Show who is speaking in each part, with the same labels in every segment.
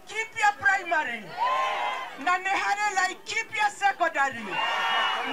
Speaker 1: Laikipia primary na nĩ harĩ Laikipia secondary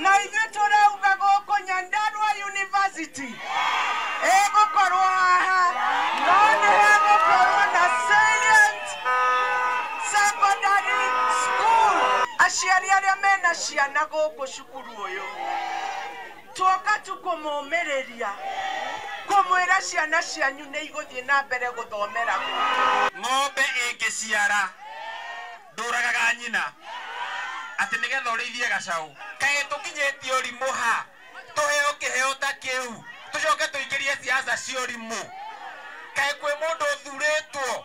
Speaker 1: na ithuĩ tũrauga gũkũ Nyandarua University ĩgũkorwo haha no nĩ hegũkorwo na Salient Secondary School. Aciari arĩa mena ciana gũkũ cukuru ũyũ Tuoka tu kũmũũmĩrĩria, kũmwĩra ciana cianyu nĩ igũthiĩ na mbere gũthomera gũkũ. Ng'ombe ĩngĩciara, ndũragaga nyina, atĩ nĩ getha ũrĩithie gacaũ. Kaĩ tũkinyĩtie ũrimũ ha? Tũheo kĩheo ta kĩu, tũcoke tũingĩrie siasa cia ũrimũ? Kaĩ kwĩ mũndũ ũthurĩtwo?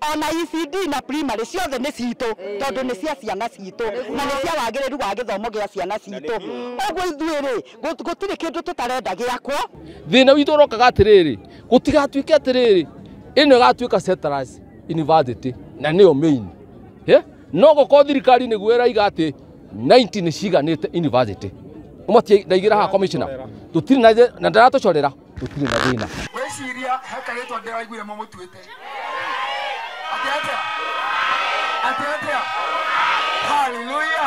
Speaker 1: Ona ECD na primary ciothe nĩ citũ tondũ nĩ cia ciana citũ na nĩ cia wagĩrĩru wa gĩthomo gĩa ciana citũ. Ũguo ithuĩ-rĩ, gũ- gũtirĩ kĩndũ tũtarenda gĩakwo. Thĩna witũ ũrokaga atĩrĩrĩ, gũtigatuĩke atĩrĩrĩ, ĩno ĩgatuĩka settlers university na nĩyo main. Eh, No gũkorwo thirikari nĩguo ĩraiga atĩ 90 nĩ ciiganĩte university. Ũmwe ti ndaigĩra haha commissioner. Tũtirĩ na na ndaratũcorera. tũtirĩ na thĩna wĩciria he karĩtwa ndĩraiguire mũmũtuĩte atĩ atĩa atĩ atĩa haleluya